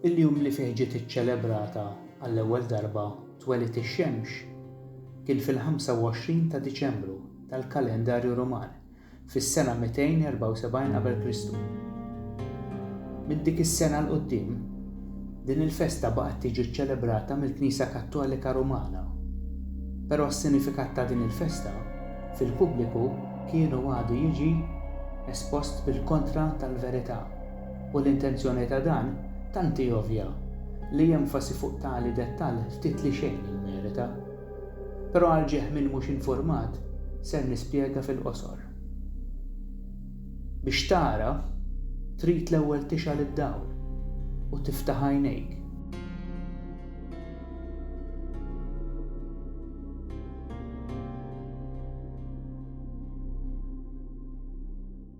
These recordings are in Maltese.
Il-jum li fih ġiet iċċelebrata għall-ewwel darba twelid ix-xemx kien fil-25 ta' Diċembru tal-kalendarju Ruman fis-sena 274 qabel Kristu. Minn dik is-sena 'l quddiem, din il-festa baqgħet tiġi ċċelebrata mill-Knisja Kattolika Rumana. Però s-sinifikat ta' din il-festa fil-pubbliku kien u għadu jiġi espost bil-kontra tal-verità. U l-intenzjoni ta' dan tant hi ovvja li enfasi fuq tali dettall ftit li xejn jimmerita. Però għal ġieħ min mhux infurmat ser nispjega fil-qosor. Biex tara, trid l-ewwel tixgħal id-dawl u tiftaħ għajnejk.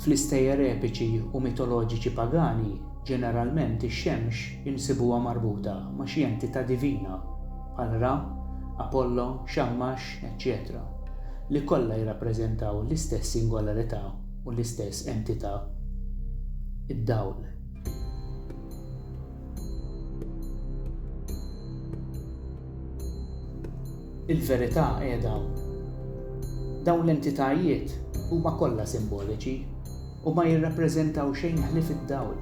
Fl-istejjer epiċi u mitoloġiċi pagani, ġeneralment ix-xemx insibuha marbuta ma' xi entità divina, bħal Ra, Apollo, Xammax, eċċetera, li kollha jirrappreżentaw l-istess singolarità u l-istess entità, id-dawl. Il-verità qiegħda hawn. Dawn l-entitajiet huma kollha simboliċi u ma jirrappreżentaw xejn ħlief id-dawl.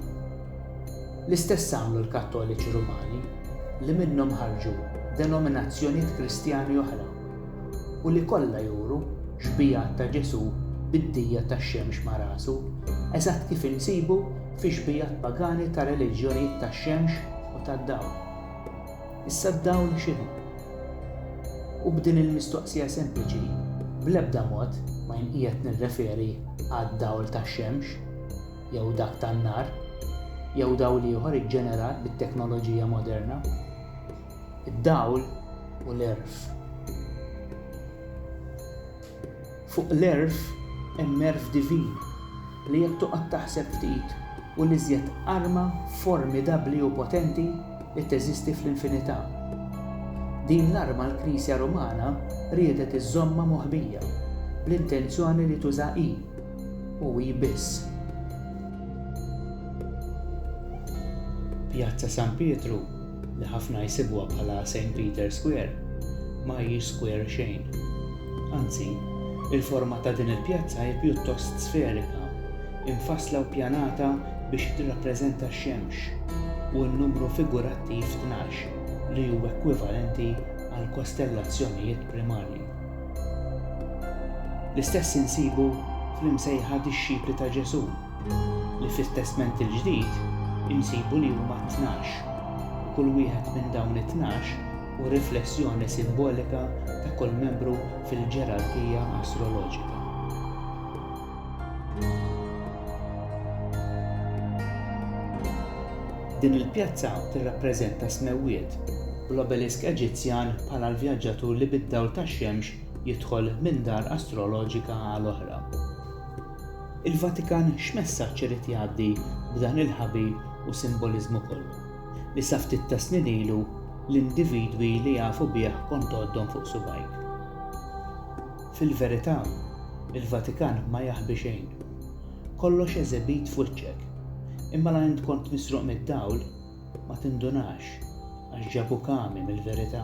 L-istess għamlu l-Kattoliċi Rumani li minnhom ħarġu denominazzjonijiet Kristjani oħra. u li kollha juru xbigħat ta' Ġesù bid-dija tax-xemx ma' rasu, eżatt kif insibu fi xbigħat pagani ta' reliġjonijiet tax-xemx u tad-dawl. Issa d-dawl x'inhu? U b'din il-mistoqsija sempliċi, bl-ebda mod ma jien qiegħed nirreferi għad-dawl tax-xemx, jew dak tan-nar, jew dawl ieħor iġġenerat bit-teknoloġija moderna. id-dawl u l-għerf. Fuq l-għerf hemm għerf divin li jekk toqgħod taħseb ftit hu l-iżjed arma formidabbli u potenti li teżisti fl-infinità. Din l-arma l-Knisja Rumana riedet iżżommha moħbija bl-intenzjoni li tuża hi, u hi biss. Pjazza San Pietru li ħafna jsibuha bħala St. Peter's Square, ma hijiex square xejn. Anzi, il-forma ta' din il-pjazza hi pjuttost sferika, imfassla u ppjanata biex tirrappreżenta x-xemx u n-numru figurattiv tnax li hu ekwivalenti għall-kostellazzjonijiet primarji. L-istess insibu fl-imsejħa dixxipli ta' Ġesù, li fit-Testment il-Ġdid insibu li huma tnax, u kull wieħed minn dawn it-tnax hu riflessjoni simbolika ta' kull membru fil-ġerarkija astroloġika. Din il-pjazza tirrappreżenta s-smewwiet, u l-obelisk Eġizzjan bħala l-vjaġġatur li bid-dawl tax-xemx jidħol minn dar astroloġika għal oħra. Il-Vatikan x'messaġġ irid jgħaddi b'dan il-ħabi u simboliżmu kollu, li sa ftit tas-snin ilu l-individwi li jafu bih kont tgħoddhom fuq subgħajk? Fil-verità, il-Vatikan ma jaħbi xejn. Kollox eżibit f'wiċċek. Imma la int kont misruq mid-dawl, ma tindunax, għax ġabuk għami mill-verità.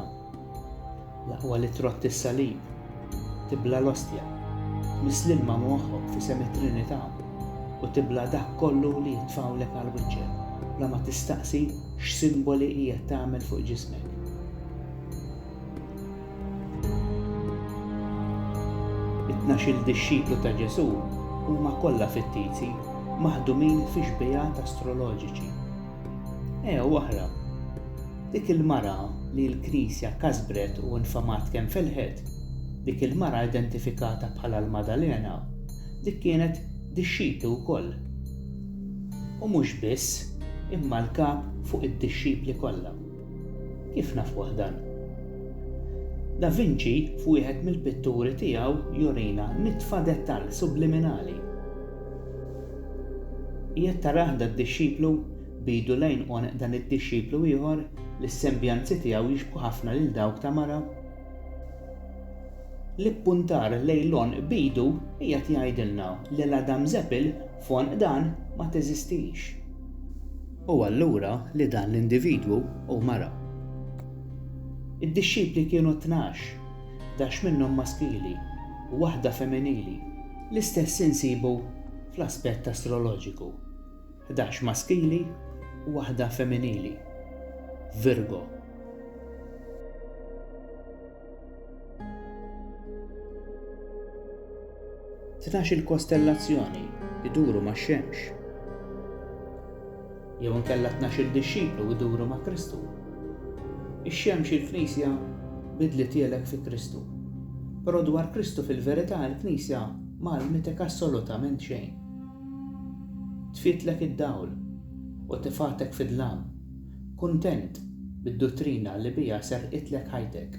L-aqwa li trotti s-salib, tibla' l-ostja, tmiss l-ilma moħħok f'isem it-Trinità u tibla' dak kollu li jitfgħulek għal wiċċek bla ma tistaqsi x'simboli qiegħed tagħmel fuq ġismek. It-tnax-il dixxiplu ta' Ġesù huma kollha fittizi maħdumin fi xbiehat astroloġiċi Ea waħra, dik il-mara li l-Knisja kasbret u nfamat kemm felħet, dik il-mara identifikata bħala l-Maddalena, dik kienet dixxiplu wkoll. U mhux biss, imma l-kap fuq id-dixxipli kollha. Kif nafuh dan? Da Vinci f'wieħed mill-pitturi tiegħu jurina nitfa dettall subliminali. Qiegħed tarah dad-dixxiplu? B'idu l-għajn għoneq dan id-dixxiplu ieħor, li s-sembjanzi tiegħu jixbħu ħafna lil dawk ta' mara. L-ippuntar lejn l-għonq b'idu qiegħed jgħidilna li l-għadamżepil f'għonq dan ma teżistix. U allura li dan l-individwu hu mara. Id-dixxipli kienu tnax, dax minnhom maskili u waħda feminili. L-istess insibu fl-aspett astroloġiku, ħdax maskili u waħda femminili, Virgo. Tnax-il kostellazzjoni iduru max-Xemx. Jew inkella t-tnax-il dixxiplu jduru ma' Kristu. Ix-xemx il-Knisja bidlitielek fi Kristu. Però dwar Kristu fil-verità il-Knisja ma għallmitek assolutament xejn. Tfitlek id-dawl u tifgħatek fid-dlam, kuntent bid-duttrina li biha serqitlek ħajtek.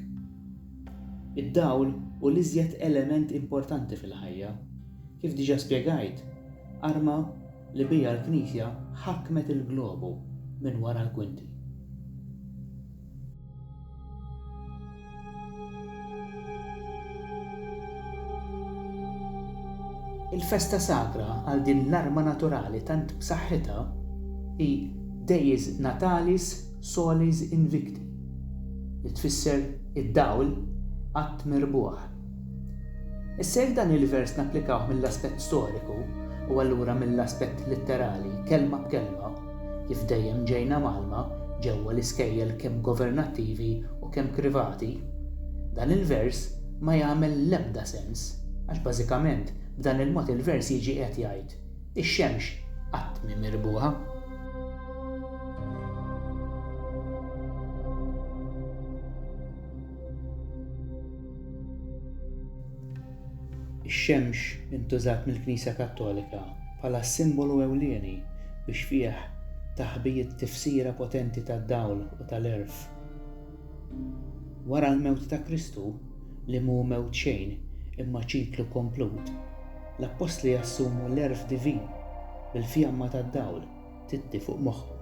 Id-dawl hu l-iżjed element importanti fil-ħajja. Kif diġà spjegajt, arma li biha l-Knisja ħakmet il-globu minn wara l-kwinti. Il-festa sagra għal din l-arma naturali tant b'saħħitha hi Deiis Natalis Solis Invicti, li tfisser id-dawl qatt merbuħ. Issa jekk dan il-vers napplikawh mill-aspett storiku, u allura mill-aspett litterali, kelma b'kelma, kif dejjem ġejna mgħallma ġewwa l-iskejjel kemm governattivi u kemm privati, dan il-vers ma jagħmel l-ebda sens, għax bażikament b'dan il-mod il-vers jiġi qiegħed jgħid, Ix-xemx qatt mhi mirbuħa. Ix-xemx intużat mill-Knisja Kattolika bħala s-simbolu ewlieni biex fih taħbiet tifsira potenti tad-dawl u tal-għerf. Wara l-mewt ta' Kristu, li mhu mewt xejn imma ċiklu komplut, l-appostli jassumu l-għerf divin bil-fjamma tad-dawl. titti fuq moħħhom.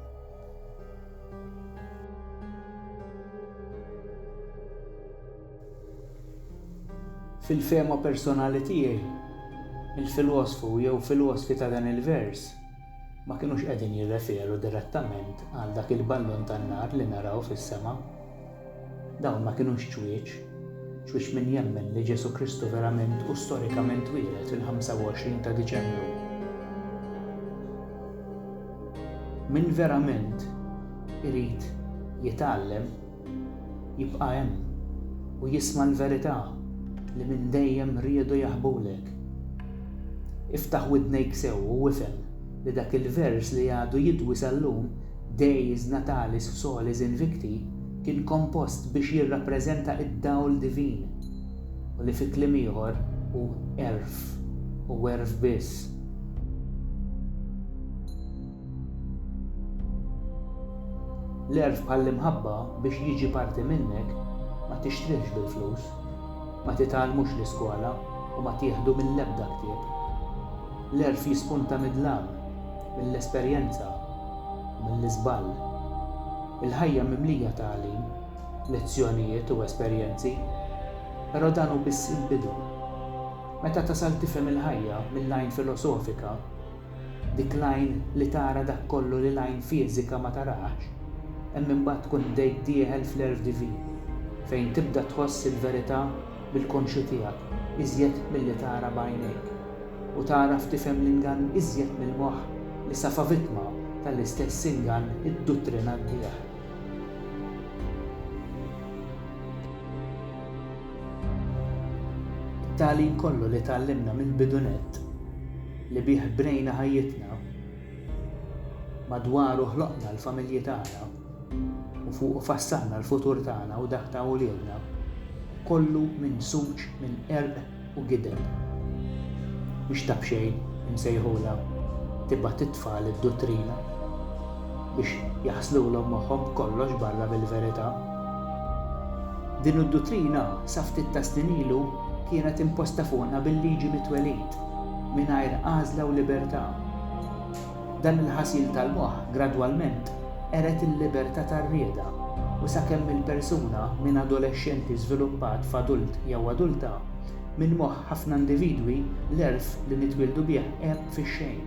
Fil-fehma personali tiegħi, il-filosfu jew filosfi ta' dan il-vers ma kinux qegħdin jirreferu direttament għal dak il-ballun tan-nar li naraw fis-sema Dawn ma kinux ċwieċ. Ċwieċ min jemmen li Ġesù Kristu verament u storikament twieled fil-25 ta' Diċembru. Min verament irid jitgħallem jibqa' hemm u jisma' l-verità li minn dejjem riedu jaħbulek. Iftaħ widnejk sew u ifhem li dak il-vers li għadu jidwi sal-lum Dies natalis solis invicti kien kompost biex jirrappreżenta d-dawl divin, u li fi kliem ieħor hu għerf, u għerf biss. L-għerf bħall-imħabba biex jiġi parti minnek ma tixtrihx bil-flus, ma titgħallmux l-iskola u ma tieħdu mill-ebda ktieb. L-għerf jispunta mid-dlam, mill-esperjenza u mill-iżball. Il-ħajja mimlija tagħlim, lezzjonijiet u esperjenzi, però dan hu biss il-bidu. Meta tasal tifhem il-ħajja mill-għajn filosofika, dik l-għajn li tara dak kollu li l-għajn fiżika ma tarax, hemm imbagħad tkun bdejt dieħel fl-Erf Divin, fejn tibda tħoss il-verità bil-konxju tiegħek iżjed milli tara b'għajnejk. u tagħraf tifhem l-ingann iżjed mill-moħħ li safa vittma tal-istess ingann idduttrinantih. It-tagħlim kollu li tgħallimna mill-bidu nett, li bih bnejna ħajjitna, madwaru ħloqna l-familji tagħna u fuqu fassalna l-futur tagħna u dak ta' uliedna, kollu mimsuġ minn qerq u gideb, biex ta' b'xejn imsejħulha tibgħat it-tfal id-duttrina, biex jaħslulhom moħħhom b'kollox barra mill-verità. Din id-duttrina sa ftit tas-snin ilu kienet imposta fuqna bil-liġi mit-twelid, mingħajr għażla u libertà. Dan il-ħasil tal-moħħ gradwalment qered il-libertà tar-rieda u sakemm il-persuna minn adolexxenti żviluppat f'adult jew adulta, minn moħħ ħafna individwi l-għerf li nitwieldu bih għeb fix-xejn.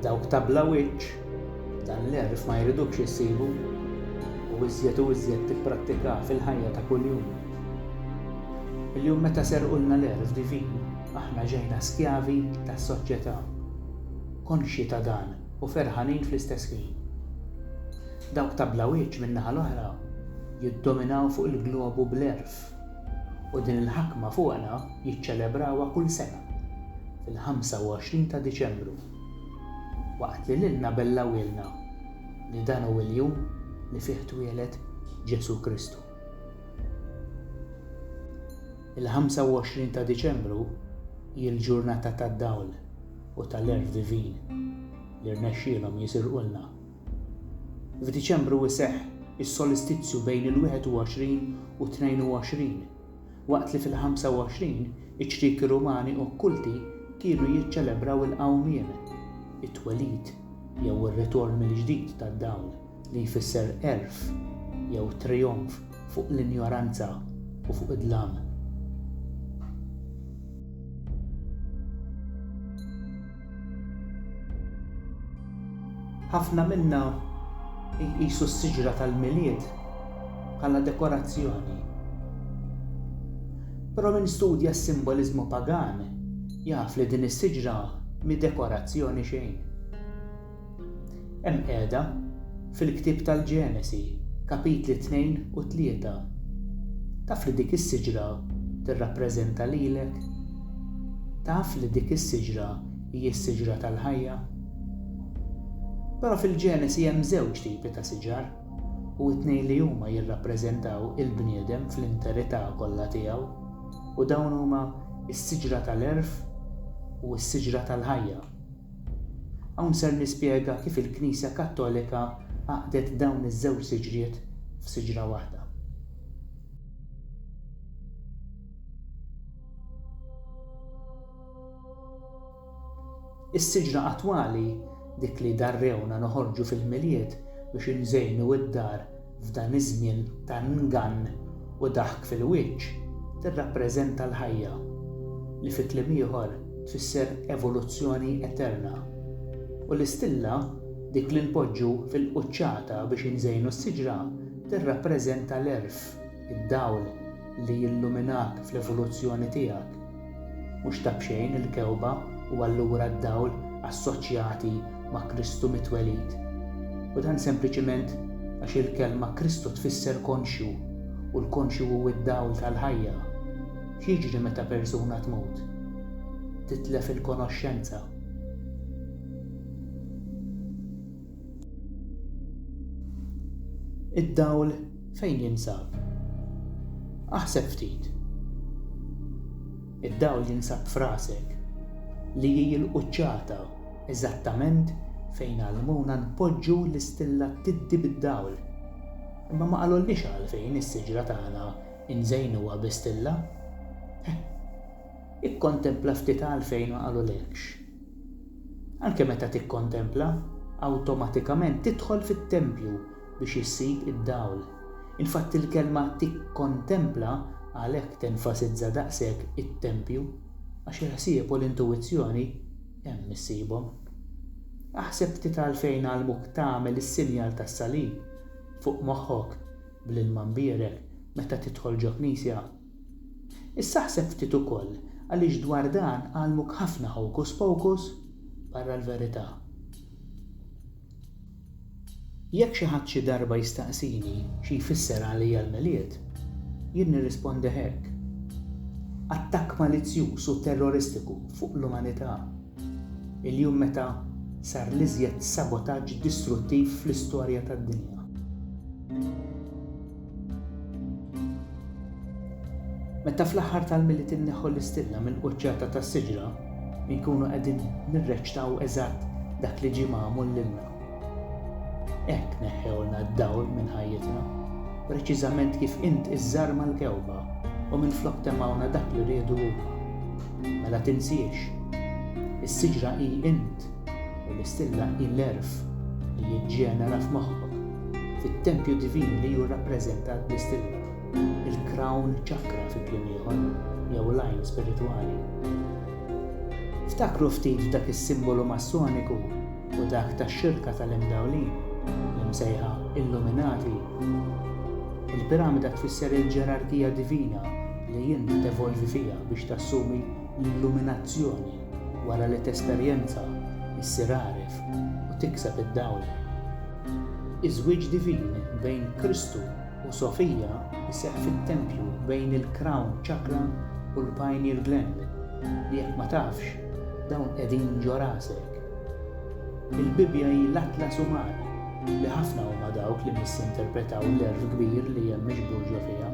Dawk ta' bla wiċċ. Dan l-għerf ma jridukx issibu u iżjed u iżjed tipprattikah fil-ħajja ta' kuljum. Illum meta serqulna l-għerf divin, aħna ġejna skjavi tas-soċjetà. Konxji ta' dan u ferħanin fl-istess ħin. Dawk ta' bla wiċċ min-naħa l-oħra jiddominaw fuq il-globu bl-għerf u din il-ħakma fuqna jiċċelebrawha kull sena fil-25 ta' Diċembru. waqt li lilna bellawilna li dan hu l-jum li fih twieled Ġesù Kristu. Il-25 ta' Diċembru hi l-ġurnata tad-dawl u tal-għerf divin li rnexxielhom jisirqulna. F'Diċembru jseħħ is-solistizju bejn il-21 u 22 waqt li fil-25 iċ-ċrieki Rumani okkulti kienu jiċċelebraw il-qawmien, it-twelid jew ir-ritorn mill-ġdid tad-dawl li jfisser għerf jew trijonf fuq l-injoranza u fuq id-dlam. Ħafna minna jqisu s-siġra tal-Milied bħala dekorazzjoni. Però min studja s-simboliżmu pagan jaf li din is-siġra mhi dekorazzjoni xejn. Hemm qiegħda fil-ktieb tal-Ġenesi, kapitli tnejn u tlieta. Taf li dik is-siġra tirrappreżenta lilek? Taf li dik is-siġra hi s-siġra tal-ħajja? Però fil-Ġenesi hemm żewġ tipi ta' siġar, u t-tnejn li huma jirrappreżentaw il-bniedem fl-interità kollha tiegħu, u dawn huma s-siġra tal-għerf u s-siġra tal-ħajja. Hawn ser nispjega kif il-Knisja Kattolika għaqdet dawn iż-żewġ siġriet f'siġra waħda. Is-siġra attwali, dik li darrewna noħorġu fil-Milied biex inżejnu d-dar f'dan iż-żmien ta' ngann u daħk fil-wiċċ, tirrappreżenta l-ħajja, li fi kliem ieħor tfisser evoluzzjoni eterna. U l-istilla, dik li npoġġu fil-quċċata biex inżejnu s-siġra, tirrappreżenta l-għerf, id-dawl li jilluminak fl-evoluzzjoni tiegħek. Mhux ta' b'xejn il-kewba u allura d-dawl assoċjati ma' Kristu mit-twelid. U dan sempliċiment għax il-kelma Kristu tfisser konxju, u l-konxju hu d-dawl tal-ħajja. X'jiġri meta persuna tmut? Titlef il-konoxxenza. Id-dawl fejn jinsab? Aħseb ftit. Id-dawl jinsab f'rasek, li hi l-quċċata eżattament fejn għallmuna npoġġu l-istillattiddi bid-dawl. Imma ma qalulniex għalfejn is-siġra tagħna nżejnuha bi stilla? Ikkontempla ftit għalfejn ma qalulekx. Anke meta tikkontempla, awtomatikament tidħol fit-tempju biex issib id-dawl. Infatti l-kelma tikkontempla għalhekk tenfasizza daqshekk it-tempju, għax il-ħsieb u l-intuwizzjoni hemm issibhom. Aħseb ftit għalfejn għallmuk tagħmel is-sinjal tas-salib fuq moħħok bl-ilma mbierek meta tidħol ġo knisja. Issa ħseb ftit ukoll għaliex dwar dan għallmuk ħafna hocus pocus barra l-verità. Jekk xi ħadd xi darba jistaqsini xi jfisser għalija l-Milied, jien nirrispondi hekk. Attakk malizzjuż u terroristiku fuq l-umanità. Il-jum meta sar l-iżjed sabotaġġ distruttiv fl-istorja tad-dinja. Meta fl-aħħar tal-Milied inneħħu l-istilla mill-quċċata tas-siġra, inkunu qegħdin nirreċtaw eżatt dak li ġie magħmul lilna. Hekk neħħewlna d-dawl minn ħajjitna, preċiżament kif int iżżarma l-kewba u minflok temgħuna dak li riedu huma. Mela tinsiex, is-siġra hi int! u l-istilla hi l-għerf li jiġġenera f'moħħok fit-tempju divin li hu rrappreżentat bl-istilla, il-crown chakra fi kliem ieħor, jew l-għajn spiritwali. Ftakru ftit f'dak is-simbolu Massoniku u dak tax-xirka tal-Imdawlin, l-imsejħa Illuminati. Il-piramida tfisser il-ġerarkija divina li int tevolvi fiha biex tassumi l-illuminazzjoni. Wara li tesperjenza, issir għaref u tikseb id-dawl. Iż-żwieġ divin bejn Kristu u Sofia jseħħ fit-tempju bejn il-Crown Chakra u l-Pineal Gland, li jekk ma tafx, dawn qegħdin ġo rasek. Il-Bibbja hi l-atlas uman, li ħafna huma dawk li missinterpretaw l-għerf kbir li hemm miġbur ġo fiha.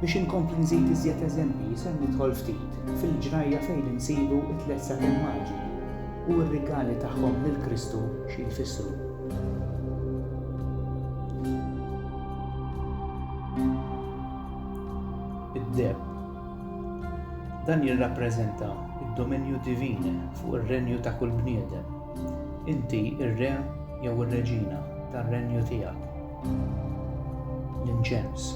Biex inkompli nżid iżjed eżempji, ser nidħol ftit fil-ġrajja fejn insibu t-tliet satin maġi u r-rigali tagħhom lil Kristu xi jfissru. Id-deheb. Dan jirrappreżenta d-dominju divin fuq ir-renju ta' kull bniedem. Inti r-re jew ir-reġina tar-renju tiegħek. l-inċens.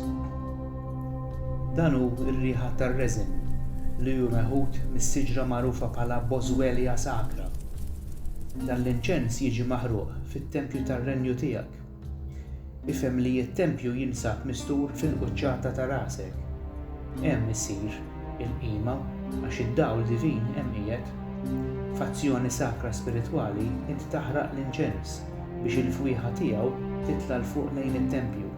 Dan hu r-riħa tar-reżin li hu meħud mis-siġra magħrufa bħala Boswellia sacra. Dan l-inċens jiġi maħruq fit-tempju tar-renju tiegħek. Ifhem li t-tempju jinsab mistur fil-quċċata ta' rasek. Hemm issir il-qima għax id-dawl divin hemm qiegħed. F'azzjoni sakra spiritwali int taħraq l-inċens. biex il-fwieħa tiegħu titla' 'l fuq lejn it-tempju.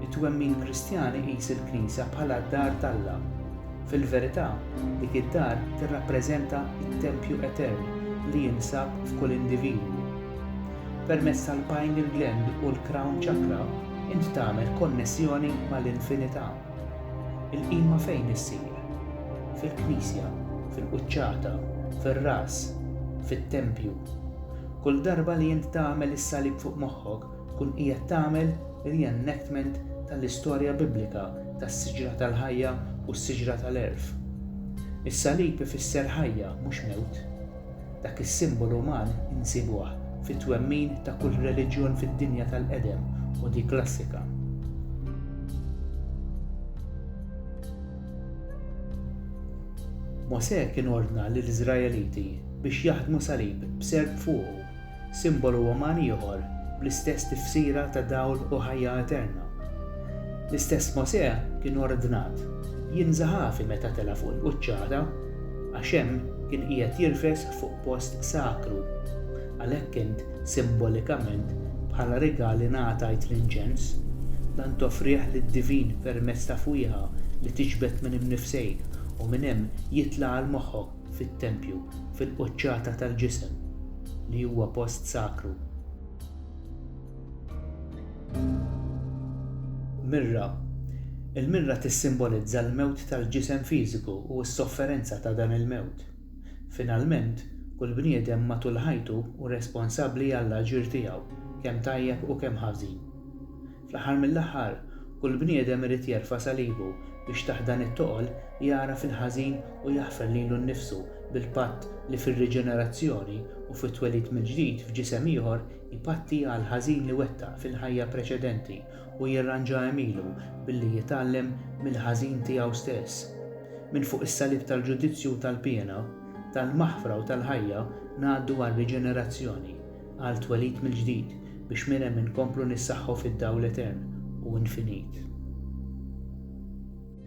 It-twemmin Kristjan iqis il-Knisja bħala d-dar t'Alla. Fil-verità, dik id-dar tirrappreżenta t-tempju etern li jinsab f'kull individwu. Permezz tal-pineal gland u l-crown chakra int tagħmel konnessjoni mal-infinità. Il-qima fejn issir? Fil-knisja, fil-quċċata, fir-ras, fit-tempju. Kull darba li int tagħmel is-salib fuq moħħok, tkun qiegħed tagħmel re-enactment tal-istorja Biblika tas-siġra tal-ħajja u s-siġra tal-għerf. Is-salib ifisser ħajja, mhux mewt. Dak is-simbolu uman insibuh fit-twemmin ta' kull reliġjon fid-dinja tal-qedem u dik klassika. Mosè kien ordna lill-Iżraeliti biex jaħdmu salib b'serp fuqu, simbolu uman ieħor bl-istess tifsira ta' dawl u ħajja eterna. L-istess Mosè kien ordnat jinża' ħafi meta tela' fuq il-quċċata, għax hemm kien qiegħed jirfes fuq post sakru. Għalhekk int, simbolikament, bħala rigal ingħatajt l-inċens, dan toffrih lid-divin permezz ta' fwieħa li tiġbed minn imnifsejk u minn hemm jitla' għal moħħok fit-tempju, fil-quċċata tal-ġisem, li huwa post sakru. Mirra Il-mirra tissimbolizza l-mewt tal-ġisem fiżiku u s-sofferenza ta' dan il-mewt. Finalment, kull bniedem matul ħajtu hu responsabbli għall-aġir tiegħu, kemm tajjeb u kemm ħażin. Fl-aħħar mill-aħħar, kull bniedem irid jerfa' salibu biex taħt dan it-toqol jagħraf il-ħażin u jaħfer lilu nnifsu bil-patt li fir-riġenerazzjoni u fit-twelid mill-ġdid f'ġisem ieħor ipatti għall-ħażin li wettaq fil-ħajja preċedenti u jirranġa għemilu billi jitgħallem mill-ħażin tiegħu stess. Minn fuq is-salib tal-ġudizzju u tal-piena, tal-maħfra u tal-ħajja ngħaddu għar-riġenerazzjoni, għal twelid mill-ġdid biex minn hemm inkomplu nissaħħu fid-dawl etern u infinit.